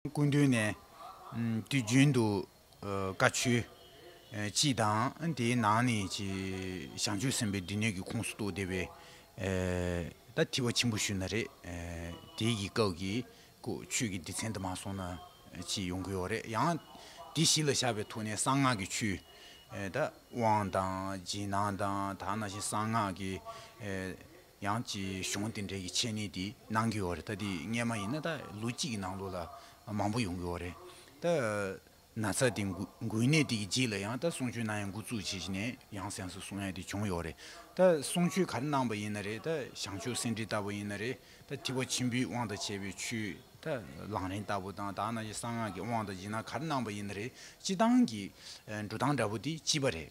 སྐུ་མདུན་ནས་དུས་རྒྱུན་དུ་བཀའ་ཆོས་སྤྱི་དང་དེའི་ནང་ནས་ཞང་ཆོས་ཟིན་པའི་སྡེ་སྣོད་ཀྱི་ཁོངས་སུ་གཏོགས་བསྡད་པའི་ད་ཐི་བ་ཆེན་པོ་ཞུ་ན་རེ། དེའི་སྐབས་ཀྱི་ཀུ། ཆོས་ཀྱི་སྡེ་ཚན་དུ་མ་སོང་ན་ཅི་ཡོང་གི་ཡོད་རེད་ཡང། དེ་གཞི་ལ་བཞག་པའི་ཐོག་ནས་གསང་སྔགས་ཀྱི་ཆུ། ད། དབང་དང། རྗེས་གནང་དང་ད་ནང་བཞིན་གསང་སྔགས་ཀྱི། ཡང་ཅི་གཞུང་དེ་འདྲའི་ཀྱི་ཆེད་ནས་དེ་གནང་གི་ཡོད་རེད་ད་དེ་སྔས་མ་ཡིན་ན་ད་ལོ་གཅིག་གི་ནང་ལོ་ལ་མང་པོ་ཡོང་གི་ཡོད་རེད་ད། ན་ཚ་དེ་འགོས་ནད་དེ་གི་རྗེས་ལ་ཡང་ད་གསུང་ཆོས་གནང་ཡང་འགོ་བཙུགས་བྱས་བྱས་ནས་ཡང་སེམས་སུ་གསུང་ཡ་དེ་བྱུང་ཡོད་རེད་ད་གསུང་ཆོས་ག་རེ་གནང་བ་ཡིན་ན་རེད་ད་ཞང་ཆོས་སེ་འབྲི་ལྟ་བུ་ཡིན་ན་རེད་ད་ཐི་བ་ཆེན་པོའི་དབང་དང་བྱས་པའི་ཆུ་ད་ལང་རིང་ལྟ་བུ་དང་དག་ན་གསང་སྔགས་ཀྱི་དབང་དང་སྦྱིན་ན་ག་རེ་གནང་བ་ཡིན་ན་རེད་སྤྱི་བཏང་གི་འགྲོ་སྟངས་འདྲ་བུ་དེ་སྤྱི་བ་རེད།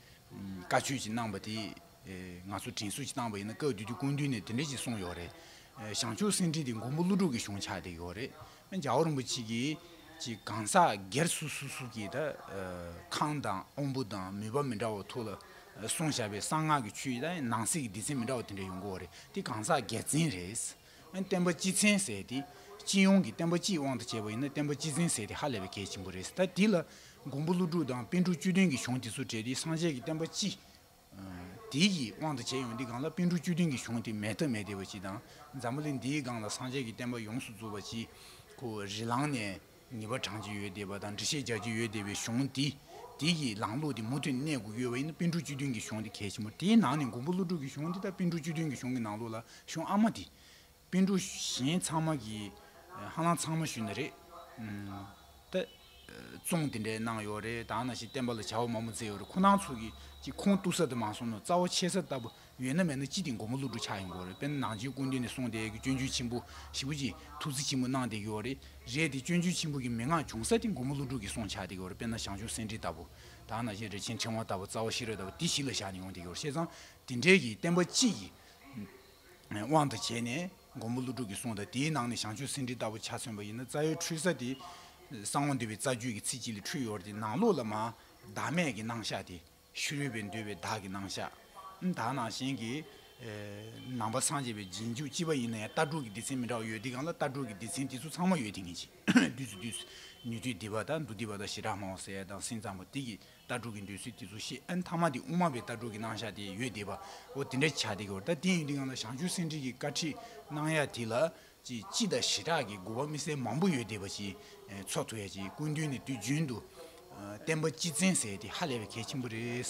བཀའ་ཆོས་ཀྱི་གནང་བ་དེ་ང་ཚོ་དྲིན་གཟོ་ཅིག་བཏང་བ་ཡིན་ན་བཀའ་བརྒྱུད་ཀྱི་སྐུ་མདུན་ནས་དེ་འདྲ་ཅིག་གསུངས་ཡོད་རེད། ཞང་ཆོས་སེང་ཁྲི་དེ་མགོན་པོ་ཀླུ་སྒྲུབ་ཀྱི་གཞུང་ཆགས་བསྡད་ཡོད་རེད། རྒྱ་བོ་རིན་པོ་ཆེ་གིས་ཀྱི་གང་ཟག་སྒེར་སུ་སུ་སུ་གིས་ད་ཁང་དང་དབང་པོ་དང་མུས་པ་མི་འདྲ་བ་ཐུགས་ལ་བཟུང་བཞག་པའི་གསང་སྔགས་ཀྱི་ཆོས་ནང་གསེས་ཀྱི་སྡེ་ཚན་མི་འདྲ་བ་དེ་འདྲ་ཡོང་གི་འོ་རེད་དེ་གང་ཟག་སྒེར་འཛིན་རེད། བསྟན་པ་སྤྱི་ཚན་ཟེར་ཏེ། སྤྱི་ཡོངས་ཀྱི་བསྟན་པ་སྤྱིའི་དབང་དུ་བྱས་པ་ཡིན་ན་བསྟན་པ་སྤྱི་ཚན་ཟེར་ཏེ་ཧ་ལས་པའི་གལ་ཆེན་པོ་རེད། ད་དེ་ལ་མགོན་པོ་ཀླུ་སྒྲུབ་དང་དཔོན་ཕྲུག་བཅུ་བདུན་གྱི་གཞུང་དེ་ཚོ་བྲལ་ཏེ་སངས་རྒྱས་ཀྱི་བསྟན་པ་སྤྱི། དེ་ཡི་དབང་དུ་བྱས་ཡོང་དེ་སྒང་ལ་དཔོན་ཕྲུག་བཅུ་བདུན་གྱི་གཞུང་དེ་མེད་ཐབས་མེད་དེ་བ་སྤྱི་དང། འཛམ་བུ་གླིང་འདིའི་སྒང་ལ་སངས་རྒྱས་ཀྱི་བསྟན་པ་ཡོངས་སུ་རྫོགས་པ་སྤྱི། གོ་རི་ལངས་ནས། ཉེས་པ་བགྲང་གྱི་ཡོད་བསྡད་པ་དང་འདྲི་བཤད་རྒྱག་གི་ཡོད་བསྡད་པའི་གཞུང་དེ་དེ་གི་ལངས་ལུགས་དེ་མུ་མཐུད་གནས་དགོས་ཀྱི་ཡོད་བ་ཡིན་ན་དཔོན་ཕྲུག་བཅུ་བདུན་གྱི་གཞུང་དེ་གལ་ཆེན་པོ་དེའི་ནང་ནས་མགོན་པོ་ཀླུ་སྒྲུབ་ཀྱི་གཞུང་དེ་དང་དཔོན་ཕྲུག་བཅུ་བདུན་གྱི་གཞུང་གི་ནང་ལུགས་ལ་གཞུང་ཨ་མ་དེ། དཔོན་ཕྲུག་གཞན་ཚང་མ་གི་ཧ་ལམ་ཚང་མ་ཞུས་ན་རེད་ད། བཙོང་དེ་འདྲས་གནང་ཡོད་རེད་དང་ན་ཞིག་བསྟན་པ་ལ་བྱ་བ་མང་པོ་མཛད་ཡོད་རེད་ཁོ་ནང་ཚུགས་ཀྱི་ཁོང་གཏུགས་ས་དེ་མ་སོང་ན་རྩ་བ་ཕྱེ་ས་ལྟ་བུ་ཡོད་ན་མེད་ན་ཅི་སྟེ་མགོ་མ་བསླུ་འགྲོ་ཆགས་ཡོང་གི་རེད་དཔེར་ན་ནང་ཆེན་དགོན་སྡེ་ནས་སོང་སྟེ་སྐྱོན་བརྗོད་ཆེན་པོ་ཞེ་པོ་ཅིག་ཐུགས་རྩི་ཆེན་པོ་གནང་བསྡད་ཀྱི་ཡོད་རེད་རེད་དེ་སྐྱོན་བརྗོད་ཆེན་པོ་གི་མི་ངག་བྱུང་ས་སྟེ་མགོ་མ་བསླུ་འགྲོ་གི་སོང་ཆགས་བསྡད་ཀྱི་ཡོད་རེད་དཔེར་ན་ཞང་ཞུང་སེང་ཁྲི་ལྟ་བུ་དང་ནང་ཆེན་རི་ཆེན་ཕྲེང་བ་ལྟ་བུ་རྩ་བ་ཤེས་རབ་ལྟ་བུ་དེ་གཞི་ལ་བཞག་ནས་ཡོང་བསྡད་ཀྱི་ཡོད་རེད་བཤད་ཙང་དེ་འདྲས་ཀྱི་བསྟན་པ་སྤྱི་ཡི་དབང་དུ་བྱས་ནས་མགོ་མ་བསླུ་འགྲོ་གི་སོང་དང་དེའི་ནང་ནས་ཞང་ཞུང་སེང་ཁྲི་ལྟ་བུ་ཆ་མཚོན་པ་ཡིན་ན་རྩ་ཡོལ་འཁྲུལ་ས་དེ་གསང་བ་འདུལ་བའི་རྩ་རྒྱུད་ཀྱི་ཚིག་གཅིག་ལས་འཁྲུལ་ཡོད་རེད་དེ་ནང་ལོགས་ལ་མ་བདག་མེད་ཀྱི་སྣང་ཤ་དེ་ཤུ་རུས་པས་འདུལ་བའི་བདག་གི་སྣང་ཤ། དག་སྣང་གཞན་གྱི། ནང་པ་སངས་རྒྱས་པའི་རྗེས་འཇུག་ཅི་བ་ཡིན་ན་ཡང་ལྟ་གྲུབ་ཀྱི་སྡེ་ཚན་མི་འདྲ་བ་ཡོད་དེ་གང་ལ་ལྟ་གྲུབ་ཀྱི་སྡེ་ཚན་དེ་ཚོ་ཚང་མ་ཡོད་དེ་ངེས་ཅི། བདུད་རྩི་བདུད། ནུས་མཐུ་བདེ་བ་དང་འདུ་བདེ་བ་དང་ཞེ་དྲག་སྨྲ་བ་ཟེར་ཡ་དང་སེམས་ཙམ་པོ་དེ་གིས་ལྟ་གྲུབ་ཀྱི་འདོད་ཚུལ་དེ་ཚོ་ཤེས་ཨེ་མཐའ་མ་དེ་དབུ་མ་པའི་ལྟ་གྲུབ་ཀྱི་སྣང་ཤ་དེ་ཡོད་བདེ་བའོ་དེ་འདྲ་བྱ་དེ་གོ་ད་དེ་ཡོད་དེ་གང་ལ་བྱང་ཆུབ་སེམས་འགྲེལ་གྱི་བཀའ་ཁྲིད་གནང་ཡ་དེ་ལ་ཅེས་སྤྱི་དང་བྱེ་བྲག་གི་དགུ་བ་མི་གསལ་མང་པོ་ཡོད་དེ་བ་ཅིའི་ཚོགས་ཐུ་ཡ་ཅེས་སྐུ་མདུན་ནས་དུས་རྒྱུན་དུ། བསྟན་པ་སྤྱི་བཙན་ཟེར་དེ་ཧ་ལས་པའི་གལ་ཆེན་པོ་རེད།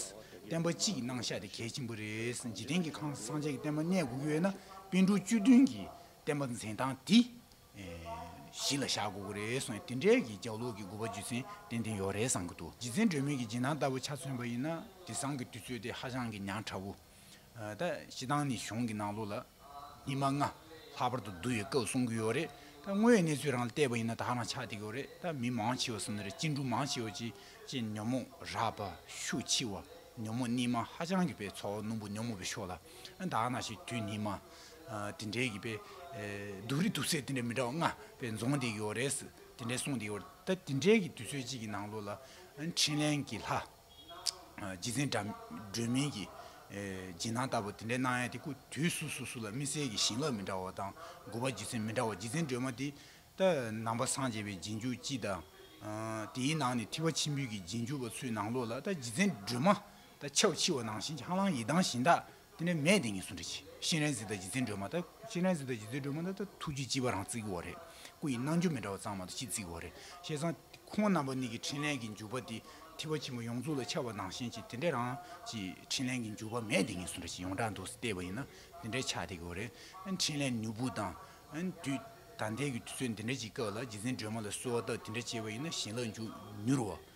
བསྟན་པ་སྤྱི་གི་སྣང་བཞག་དེ་གལ་ཆེན་པོ་རེད། འཇིག་རྟེན་གྱི་ཁང་སངས་རྒྱས་ཀྱི་བསྟན་པ་གནས་དགུ་ཡོད་ན་དཔལ་འབྲུག་བཅུ་བདུན་གྱི་བསྟན་པ་འཛིན་སྟངས་དེ་གཞི་ལ་བཞག་དགོས་ཀྱི་རེད་གསུངས་ཡ་དེ་འདྲའི་གི་རྒྱག་ལུགས་ཀྱི་དགུ་བ་རྒྱུ་མཚན་ཏན་ཏན་ཡོད་རེད་བསམ་གྱི་འདུག་རྗེ་བཙན་སྒྲོལ་མས་ཀྱི་རྗེས་གནང་ལྟ་བུ་ཆ་མཚོན་པ་ཡིན་ན་དེ་སང་གི་དུས་ཚོད་དེ་ཧ་ཅང་གི་ཉག་ཕྲ་བོ། ད་ཞེ་སྡང་ནི་གཞུང་གི་ནང་ལོགས་ལ་ཉི་མ་ལྔ་ལྷག་པར་དུ་བསྡུ་བའི་སྐབས་གསུང་གི་ཡོད་རེད་ད་དངོས་ཡོད་གནས་ཚུལ་རང་ལ་བལྟས་པ་ཡིན་ན་དག་རང་ཆགས་འདེགས་ཡོད་རེད་ད་མི་མང་ཆེ་བ་གསུང་ན་རེད་སྤྱི་འགྲོ་མང་ཆེ་བ་ཅི་ཅི་ཉོན་མོངས་རག་པ་ཤུགས་ཆེ་བ་ཉོན་མོངས་གནས་མང་ཧ་ཅང་གི་པའི་ཚོགས་སྣུམ་པོ་ཉོན་མོངས་པའི་ཕྱོགས་ལ་དག་ན་ཞིག་དུས་ནི་མ་དེ་འདྲའི་གི་པའི་སྡུག་རི་སྡུག་ཚད་དེ་འདྲ་མི་འདྲ་བ་ལྔ་པའི་འཛོང་འདེགས་ཡོད་རེད་དེ་འདྲའི་གསུང་འདེགས་ཡོད་རེད་ད་དེ་འདྲའི་གི་དུས་ཚོད་ཅིག་གི་ནང་ལོགས་ལ་འཕྲིན་ལན་གི་ལྷ། རྗེ་བཙུན་སྒྲོལ་མིང་གི་རྗེས་གནང་ལྟ་བུ་དེ་འདྲའི་གནང་ཡ་དེ་སྐུ་དུས་སུ་སུ་སུ་ལ་མི་གསལ་གྱི་ཞིང་ལབ་མི་འདྲ་བ་དང་མགུ་བ་རྗེ་བཙུན་མི་འདྲ་བ་རྗེ་བཙུན་སྒྲོལ་མ་དེ་ལྟ་ནང་པ་སངས་རྒྱས་པའི་རྗེས་འཇུག་སྤྱི་དང། དེའི་ནང་ནས་ཐི་བ་ཆེན་པོའི་གྱི་རྗེས་འཇུག་པ་ཚུལ་ནང་ལོགས་ལ་ལྟ་རྗེ་བཙུན་སྒྲོལ་མ་ལྟ་ཆབ་འཆི་བ་ནང་བཞིན་ཆང་ལང་ཡི་དྭངས་བཞིན་དག་དེ་ནས་མས་དེ་གཉིས་སུ་འདྲི་ཅིག། གཤེན་རྭའི་གཟི་བདག་རྗེ་བཙུན་སྒྲོལ་མ་དང། གཤེན་རྭའི་གཟི་བདག་རྗེ་བཙུན་སྒྲོལ་མ་དང་ཐུགས་རྗེའི་ལྕི་བ་རང་བརྩིགས་བོ་རེད། སྐུ་ཡི་རྣལ་འབྱོར་མི་འདྲ་བ་གཙང་མ་དང་ཕྱི་བརྩིགས་བོ་རེད། བཤད་བཟང། ཁོང་རྣམ་པ་གཉིས་ཀྱི་འཕྲིན་ལན་གྱི་འཇུག་པ་དེ་ཐི་བ་ཆེན་པོ་ཡོངས་རྫོགས་ལ་ཆགས་པ་ནང་བཞིན་གྱི་དེ་འདྲའི་རང་གི་འཕྲིན་ལན་གྱི་འཇུག་པ་མས་དེ་གཉིས་སུ་འདྲི་ཅིག་ཡོངས་གྲགས་འདུག་སེ་བལྟས་པ་ཡིན་ན་དེ་འདྲའི་ཆགས་སྡེ་གི་བོ་རེད། འཕྲིན་ལན་ནུས་པོ་དང། དུས་ད་ལྟའི་གི་དུས་ཚོད་འདི་འདྲ་གྱི་སྐབས་ལ་རྗེ་བཙུན་སྒྲོལ་མ་ལ་གསོལ་བ་བཏབ་དེ་འདྲ་བྱས་པ་ཡིན་ན་བྱིན་རླབས་འཇུག་མྱུར་བ།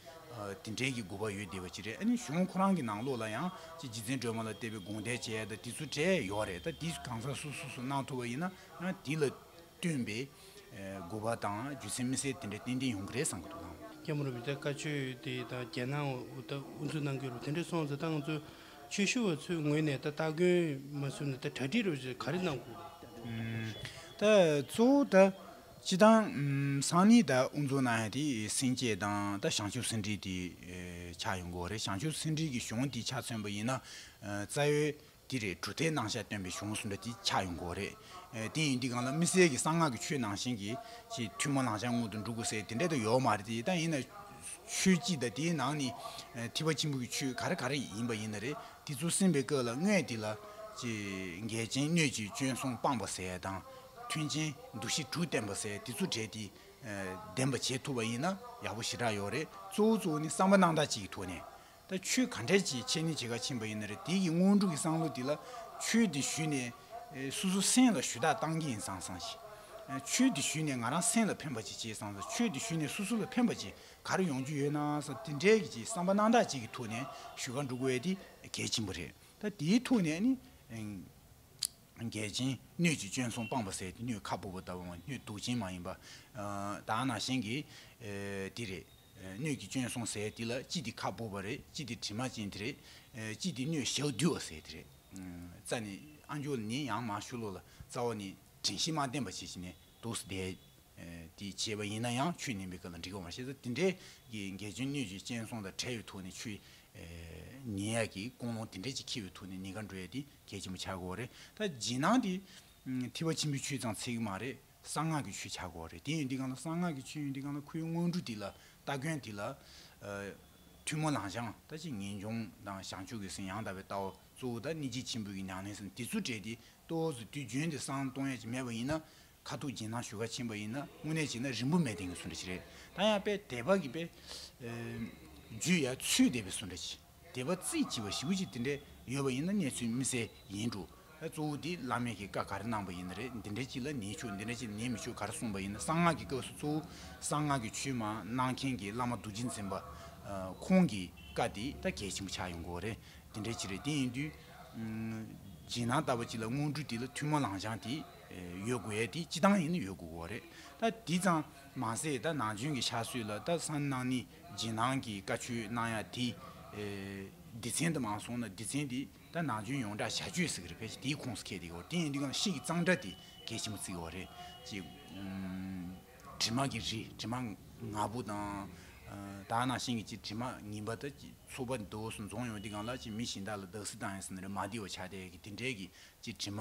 དེ་འབྲེལ་གྱི་དགོས་པ་ཡོད་བསྡད་པ་ཅི་རེད་ཨ་ནི་གཞུང་ཁོ་རང་གི་ནང་ལོགས་ལ་ཡང་ཅི་རྗེ་བཙན་སྒྲོལ་མ་ལ་བལྟས་པའི་དགོངས་དད་བཅས་དང་དེ་ཚོ་འབྲེལ་ཡོད་རེད་ད་འདིས་གང་ཟག་སུ་སུ་སུ་གནང་ཐུབ་པ་ཡིན་ན་དེ་ལ་བསྟུན་པའི་དགོས་པ་དང་རྒྱུ་མཚན་མི་གསལ་དེ་འདྲ་ཏན་ཏན་ཡོང་གི་རེད་བསམ་གྱི་འདུག་ཨང། རྒྱ་མོ་རུ་བི་ཏའི་བཀའ་ཆོས་དེ་ད་རྒྱལ་ནང་དབུ་འཛུགས་གནང་རྒྱུ་རུ་དེ་འདྲ་སོང་ཟེར་ད་ང་ཚོ་ཆོས་ཞུ་བ་ཚོའི་ངོས་ནས་ད་སྟ་གོན་མ་ཟུར་ནས་ད་གྲ་སྒྲིག་རུ་ག་རེ་གནང་དགོས། ད་གཙོ་བོ་ད། སྤྱི་དང། སང་ཉིན་ད་དབུ་འཛུགས་གནང་ཡ་དེ་སེང་གེ་དང་ད་བྱང་ཆུབ་སེང་འབྲི་དེ་ཆགས་ཡོང་གི་འོ་རེད་བྱང་ཆུབ་སེང་འབྲི་གི་གཞུང་དེ་ཆ་མཚོན་པ་ཡིན་ན་རྩ་བའི་དེ་རེད་གྲུ་ཐལ་ནང་ཤ་བཏོན་པའི་གཞུང་སུ་འདྲ་དེ་ཆགས་ཡོང་གི་འོ་རེད་དེ་ཡིན་དུས་གང་ལ་དམིགས་བསལ་གི་གསང་སྔགས་ཀྱི་ཆོས་ནང་བཞིན་གྱི་ཆེས་ཐུན་མོང་ལང་ཤ་སྔོན་དུ་འགྲོ་དགོས་ཟེར་དེ་འདྲ་དུ་ཡོག་མ་རེད་དེ་ད་ཡིན་ན་ཆོས་སྤྱི་ད་དེའི་ནང་ནས་ཐིབ་པ་ཆེན་པོ་གི་ཆོས་ག་རེ་ག་རེ་ཡིན་པ་ཡིན་ན་རེད་དེ་ཚུར་སིམ་པའི་སྐབས་ལ་དངོས་དེ་ལ། འགལ་ཅན་གནོད་ཅིང་སྐྱོན་སོང་སྤངས་པ་ཟད་དང། མཐུན་ཅན་འདུ་ཤེས་དྲུག་བསྟན་པ་ཟད་དེ་ཚུར་བྲལ་ཏེ། བདེན་པ་བྱེད་ཐུབ་པ་ཡིན་ན་ཡག་པོ་ཞེ་དྲག་ཡོད་རེད་གཙོ་བོ་གཙོ་བོ་ནི་བསམ་པ་སྣང་དག་ཅིག་གི་ཐོག་ནས། ད་ཆོས་ག་འདྲས་ཀྱིས་ཆེ་ནི་ཇི་ག་ཕྱིན་པ་ཡིན་ན་རེད་དེ་གི་དངོས་སྒྲུབ་ཀྱི་བསམ་བློ་དེ་ལ། ཆོས་དེ་ཞུས་ནས། སུ་སུ་སེམས་ལ་ཞུ་དག་བཏང་གི་ཡིན་སང་སང་ཞིག། ཆོས་དེ་ཞུས་ནས་ང་རང་སེམས་ལ་ཕན་པ་ཅིག་བྱས་སང་སང་ཆོས་དེ་ཞུས་ནས་སུ་སུ་ལ་ཕན་པ་ཅིག་གར་ཡོང་རྒྱུ་ཡོད་ན་སོགས་དེ་འདྲའི་གྱི་བསམ་པ་སྣང་གྲགས་ཅིག་གི་ཐུགས་ནས་ཞུ་ཁ་འབྲུག་བས་དེ་གལ་ཆེན་པོ་རེད་ད་དེའི་ཐུགས་ནས་ནི། འགལ་ཅན་སྣོད་ཀྱི་སྐྱོན་སོང་སྤངས་པ་ཟད་དེ་སྣོད་ཁ་སྤུ་བ་ལྟ་བུ་སྣོད་དུག་ཅན་མ་ཡིན་པ། དག་ན་གཞན་གྱི་དེ་རེད། སྣོད་ཀྱི་སྐྱོན་སོང་ཟད་དེ་ལ་ཅི་སྟེ་ཁ་སྤུ་བ་རེད་ཅི་སྟེ་དྲི་མ་ཅན་དེ་རེད། ཅི་སྟེ་སྣོད་ཞག་བདུད་བ་ཟད་དེ་རེད། རྩ་ནི་ཨ་འགྱུར་ལ་ནི་ཡང་མ་ཞུ་ལོ་ལ་རྩ་བ་ནི་དྲིན་ཤིང་མ་བརྟེན་པ་བྱེད་བྱེད་ནས་དུག་བཟླས། དེས་བྱས་པ་ཡིན་ན་ཡང་ཆུ་ནིམ་པའི་སྐབས་ལ་འགྲིག་པ་མ་ཤེས་ཏེ་དེ་འདྲའི་འགལ་རྐྱེན་སྣོད་བཅུད་སྤྱན་ཟུང་དང་བྲལ་བའི་ཐུགས་ནི་ཆུ། ཉེས་ཡག་གི་ཀུན་སློང་དེ་འདྲས་ཅིག་འཁྱིལ་བའི་ཐུགས་ནི་ནི་ག་འགྲོ་ཡ་དེ་གལ་ཆེན་པོ་ཆགས་དགོས་བ་རེད་ད་རྗེས་གནང་དེ། ཐིགས་པ་ཆེན་པོའི་ཆུའི་དང་ཚིག་མ་རེད་གསང་སྔགས་ཀྱི་ཆུ་ཆགས་དགོས་བ་རེད་དེ་ཡོན་ཏི་གང་ལ་གསང་སྔགས་ཀྱི་ཆུ་ཡོན་ཏི་གང་ལ་ཁུ་ཡོན་སྔོན་འགྲོ་དེ་ལ་སྟ་གོན་དེ་ལ། ཐུན་མོང་ལང་བྱང་ད་ཅི་ངེས་འབྱུང་དང་བྱང་ཆུབ་ཀྱི་སེམས་ཡང་དག་པའི་ལྟ་བ་གཙོ་བོ་ད་ནི་རྗེ་ཆེན་པོ་ཀྱི་ཉང་ལེན་སེམས་དེ་ཚུར་དྲས་ཏེ་ལྟོ་བཟོ་དུས་རྒྱུན་དེ་སང་གཏོང་ཡ་ཅིག་མེད་པ་ཡིན་ན་ཁ་ཐུག་རྗེས་གནང་ཞུ་བ་ཕྱིན་པ་ཡིན་ན་དངོས་གནས་བྱས་ན་རིན་པོ་མེད་ལྡན་གྱི་སུ་འདྲ་ཅི་རེད་ད་ཡང་དཔེ་དད་པ་གི་དཔེ་བརྗོད་ཡ་ཚུལ་དད་པའི་སུ་འདྲ་ཅི་དད་པ་རྩིས་ཅི་བ་ཞིབ་པོ་ཅི་དེ་འདྲ་ཡོད་པ་ཡིན་ན་གནས་ཚུལ་མི་གསལ་ཡིན་འགྲོ་ཨ་གཙོ་བོ་དེ་བླ་མེད་ཀྱི་བཀའ་ག་རེ་གནང་པ་ཡིན་ན་རེད་འདི་འདྲ་ཅི་ལ་ནི་ཆོས་འདི་འདྲ་ཅི་ནི་མི་ཆོས་ག་རེ་གསུངས་པ་ཡིན་ན་གསང་སྔགས་ཀྱི་སྐབས་སུ་གཙོ་བོ་གསང་སྔགས་ཀྱི་ཆོས་མ་གནང་མཁན་གྱི་བླ་མ་རྡོ་རྗེ་འཛིན་པ་ཁོང་གི་བཀའ་དེ་ད་གལ་ཆེན་པོ་ཆགས་ཡོང་གི་འོ་རེད་འདི་འདྲ་ཅི་རེད་དེ་ཡིན་དུས་རྗེས་གནང་ལྟ་བ་ཅི་ལ་དངོས་གྲུབ་དེ་ལ་ཐུགས་མ་ལངས་ཅང་དེ། ཡོད་དགུ་ཡས་དེ་སྤྱི་བཏང་ཡིན་ཡོད་དགུ་བོ་རེད་ད་དེ་ཙང་མ་ཟད་ད་ནང་ཆོན་གི་ཆགས་སུད་ལ་ད་སང་ནང་ནི་ཇེ་ནང་གི་བཀའ་ཆོས་གནང་ཡ་དེ་སྡེ་ཚན་ད་མང་སོང་ན་སྡེ་ཚན་དེ་ད་ནང་ཆོན་ཡོངས་གྲགས་བྱ་ཆོས་ཟིག་རེད་ཕལ་ཆེ་དེའི་ཁོངས་སུ་ཁེལ་དེ་གི་བོ་རེད་དེ་ཡིན་དུས་ཀང་ཤེས་གི་ཙང་འདྲ་དེ་གལ་ཆེན་པོ་ཙིག་གི་བོ་རེད་ཅེ། དྲི་མ་གི་རི་དྲི་མ་ནག་པོ་དང་ད་ནང་བཞིན་གི་ཅི་དྲི་མ་ངིན་པ་ད་ཅི་ཚོ་པ་དོ་སུ་འཛོང་ཡོང་དེ་གང་ལ་ཅི་མི་གཞིན་དག་ལ་བདག་སི་དང་ཡ་སི་ན་རེ་མ་དེ་བོ་ཆགས་དེ་གི་དེ་འདྲས་གི་ཅི་དྲི་མ་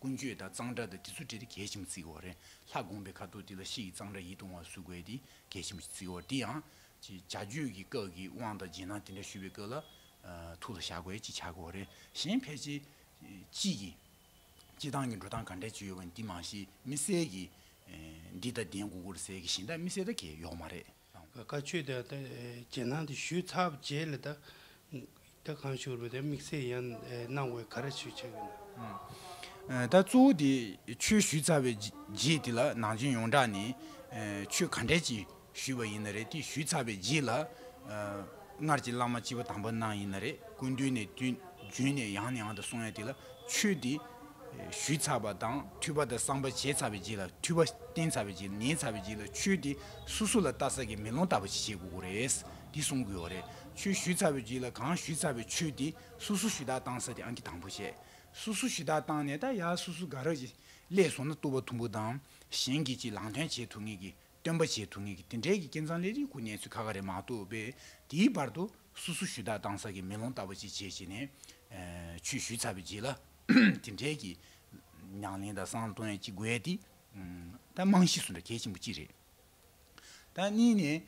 ཀུན་སྤྱོད་དང་གཙང་སྦྲ་དང་དྲི་ཚུལ་བྲལ་ཏེ་གད་ཤིམ་བརྩིགས་བ་རེད་ལྷ་དགོངས་པའི་ཁ་དོག་འདི་ལ་ཕྱི་ཡི་གཙང་སྦྲ་ཡིད་གདུང་བ་གཟུགས་བས་དེ་གད་ཤིམ་བརྩིགས་བ་འདི་ཡང། བྱ་རྒྱུད་ཀྱི་སྐབས་ཀྱི་དབང་དང་རྗེས་གནང་དེ་འདྲ་ཞུ་བའི་སྐབས་ལ། ཐུགས་ལ་བཞག་དགོས་ཅེས་བྱ་དགོས་བ་རེད་གཞན་ཕལ་ཆེར། དཔྱིད་ཀྱི་སྤྱི་སྟངས་ཀྱི་འགྲོ་སྟངས་ག་འདྲའི་བྱུས་ཡོད་པ་འདི་མང་ཤེས་མི་གསལ་གྱི། འདི་ལྟ་བདེན་གུ་གུར་གསལ་གྱི་བཞིན་ད་མི་གསལ་ད་གས་ཡོག་མ་རེད། བཀའ་ཆོས་དེ་དག་རྗེས་གནང་དུ་ཞུས་ཚར་བ་རྗེས་ལ་དག་གང་ཞུ་རུང་དམིགས་བསལ་ཡང་གནང་བའི་ག་རེ་ཞུ་ཆེད་ཡིན། ད་གཙོ་བོ་དེ་ཆོས་ཞུས་ཚར་བའི་རྗེས་དེ་ལ་ནང་ཆོས་ཡོངས་གྲགས་ནས་ཆོས་ག་འདྲས་ཀྱི་ཞུས་པ་ཡིན་ན་རེད་དེ་ཞུས་ཚར་བའི་རྗེས་ལ་སྔར་གྱི་བླ་མ་སྤྱི་བོ་དམ་པ་གནང་ཡིན་ན་རེད་ཀུན་འདུས་ནས་དུས་རྒྱུན་ནས་ཡང་ནས་ཡང་དུ་གསུང་ཡ་དེ་ལ་ཆོས་དེ། ཞུས་ཚར་བ་དང་ཐུལ་བ་དང་བསམ་པ་བྱས་ཚར་བའི་རྗེས་ལ་ཐུལ་བ་བསྟན་ཚར་བའི་རྗེས་ལ་ཉན་ཚར་བའི་རྗེས་ལ་ཆོས་དེ་སུ་སུ་ལ་བལྟ་ས་ཀྱི་མེ་ལོང་ལྟ་བུ་ཞིག་བྱེད་དགོས་ཀྱི་རེད། དེ་གསུང་དགོས་བ་རེད། ཆོས་ཞུས་ཚར་བའི་རྗེས་ལ་གང་ཞུས་ཚར་བའི་ཆོས་དེ་སུ་སུ་ཞུ་དག་བཏང་ས་དེ་ཨང་ཀི་དང་པོ་བྱས། སུ་སུ་ཞུ་དག་བཏང་ནས་ད་ཡ་སུ་སུ་དགའ་རོགས་ཀྱིས་སླད་སོང་ན་ལྟོ་བ་ཐུམ་བུ་དང་གཞན་གྱིས་ཅི་ལང་ཐོན་བྱེད་ཐུབ་ངེས་ཀྱི་སྟོན་པ་བྱེད་ཐུབ་ངེས་ཀྱི་དེ་འདྲའི་གི་ཀེང་ཚང་ལས་རིགས་ཁུ་གནས་ཚུལ་ཁ་ཁ་རེད་མ་གཏོགས་པས་དེའི་བར་དུ་སུ་སུ་ཞུ་དག་བཏང་ས་ཀྱི་མེ་ལོང་ལྟ་བུ་ཅིག་བྱས་བྱས་ནས། ཆོས་ཞུས་ཚར་བའི་རྗེས་ལ། དེ་འཕྲལ་གྱི་ཉང་ལིང་དང་སང་ཏོན་གྱི་དགོས་འདི་ད་རྨང་གཞི་སུ་འདྲ་གལ་ཆེན་པོ་གཅིག་རེད། ད་གཉིས་ནས་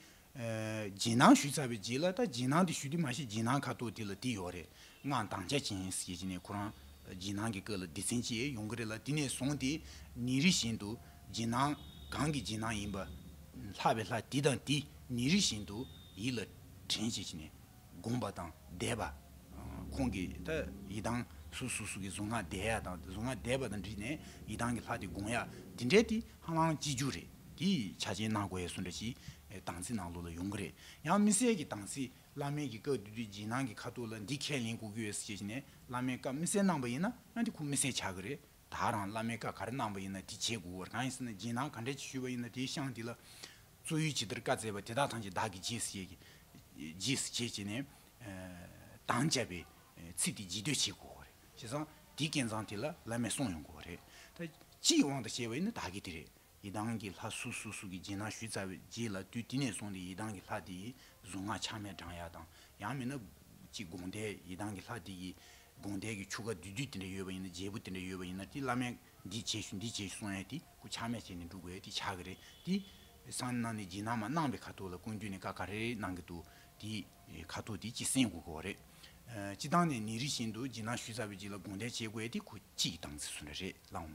ཇེ་ནང་བཞུད་ཚར་བའི་རྗེས་ལ་ད་ཇེ་ནང་དེ་བཞུད་དེ་མ་ཤེས་ཇེ་ནང་ཁ་ཐོག་དེ་ལ་དེ་ཡོད་རེད་ངའང་འདང་ཆ་ཅན་ཡིན་ཟེར་གྱི་ནས་ཁོ་རང་ཇེ་ནང་གི་སྐད་ལ་སྡེ་ཚན་ཅེས་ཡོང་གི་རེད་ལ་དེ་ནས་བཟུང་སྟེ་ཉིན་རེ་བཞིན་དུ་ཇེ་ནང་གང་གི་ཇེ་ནང་ཡིན་པ། ལྷ་བའི་ལྷ་དེ་དང་དེ་ཉིན་རེ་བཞིན་དུ་ཡིད་ལ་དྲན་བྱེད་ཀྱི་ནས། དགོངས་པ་དང་བཟླས་པ། ཁོང་གིས་ད་ཡི་དྭགས་སུ་སུ་སུ་གི་གཟུངས་སྔགས་བཟླས་ཡ་དང་གཟུངས་སྔགས་བཟླས་པ་དང་འདྲིས་ནས་ཡི་དྭགས་ཀྱི་ལྷ་དེ་དགོངས་ཡ་དེ་འདྲས་དེ་ཧ་ལང་སྐྱིད་རྒྱུ་རེད་དེ་ཆ་རྐྱེན་སྣ་དགོས་ཡ་སུ་འདྲ་ཞིག་དང་ཚིག་ནང་ལུགས་ལ་ཡོང་གི་རེད་ཡང་མི་གསལ་གི་དང་ཚིག་བླ་མེད་གི་བཀའ་བསྡུས་དུས་རྗེས་གནང་གི་ཁ་ཐུག་ལ་འདི་ཁས་ལེན་གོ་གི་ཡོད་ཟེར་གྱི་ནས་བླ་མེད་བཀའ་མི་གསལ་གནང་པ་ཡིན་ན་ཡང་དེ་ཁུག་མི་གསལ་ཆག་གི་རེད་དག་རང་བླ་མའི་བཀའ་ག་རེ་གནང་བ་ཡིན་ན་དེ་བྱེད་དགོས་གང་ཡིན་ཟེར་ན་སྦྱིན་བདག་ག་འདྲས་ཀྱིས་ཞུས་པ་ཡིན་ན་དེའི་ཤངས་འདི་ལ། གཙོ་ཡུལ་ཇི་ལྟར་བཀའ་སྩལ་བ་དེ་དག་ཐང་ཅད་བདག་གིས་རྗེས་སུ་རྗེས་སུ་བྱེད་ཅེས་ནས། དང་བཅའ་བའི་ཚིག་དེ་ལྗིད་སྡོད་བྱེད་དགོས་བ་རེད་བྱས་ཙང་དེའི་སྐལ་མཚང་དེ་ལ་བླ་མས་གསུངས་ཡོང་དགོས་བ་རེད་ད། སྤྱིའི་དབང་དུ་བྱས་བ་ཡིན་ན་བདག་གིས་དེ་རེད་ཡི་དྭགས་ཀྱི་ལྷ་སུ་སུ་སུ་གི་རྗེས་གནང་ཞུས་ཚར་བའི་རྗེས་ལ་དུས་དེ་ནས་བཟུང་སྟེ་ཡི་དྭགས་ཀྱི་ལྷ་དེ་ཡི་གཟུངས་སྔགས་ཆགས་མེད་བགྲང་ཡག་དང་ཡང་མིན་ན། གཅིག་དགོངས་དད་ཡི་དྭགས་ཀྱི་ལྷ་དེ་ཡི་དགོངས་དད་ཀྱི་ཆུ་ཁ་དུས་དུས་དེ་འདྲ་ཡོད་པ་ཡིན་ན་རྒྱལ་བུ་དེ་འདྲ་ཡོད་པ་ཡིན་ན་དེ་བླ་མས་འདི་བྱེད་ཞུ་འདི་བྱེད་ཞུ་གསུངས་ཡས་དེ་སྐུ་ཆགས་མེད་བྱས་ནས་འགྲུབ་དགོས་དེ་ཆགས་ཀྱི་རེད་དེ། སང་གནང་ནས་རྗེས་གནང་མ་གནང་བའི་ཁ་ཐུག་ལ་ཀུན་བཏུས་ནས་ཀ་ཀ་རེ་རེ་གནང་གི་འདུག་དེ་ཁ་ཐུག་དེ་གཅིག་གསན་དགོས་ཀྱི་བ་རེད། སྤྱི་བཏང་ནས་ནི་རི་བཞིན་དུ་རྗེས་གནང་ཞུས་ཚར་བའི་རྗེས་ལ་དགོངས་དད་བྱེད་དགོས་ཡས་དེ་ཁུ་གཅིག་གི་སྟངས་ཚིགས་སུ་འདྲ་རེད་ལགས་འམ།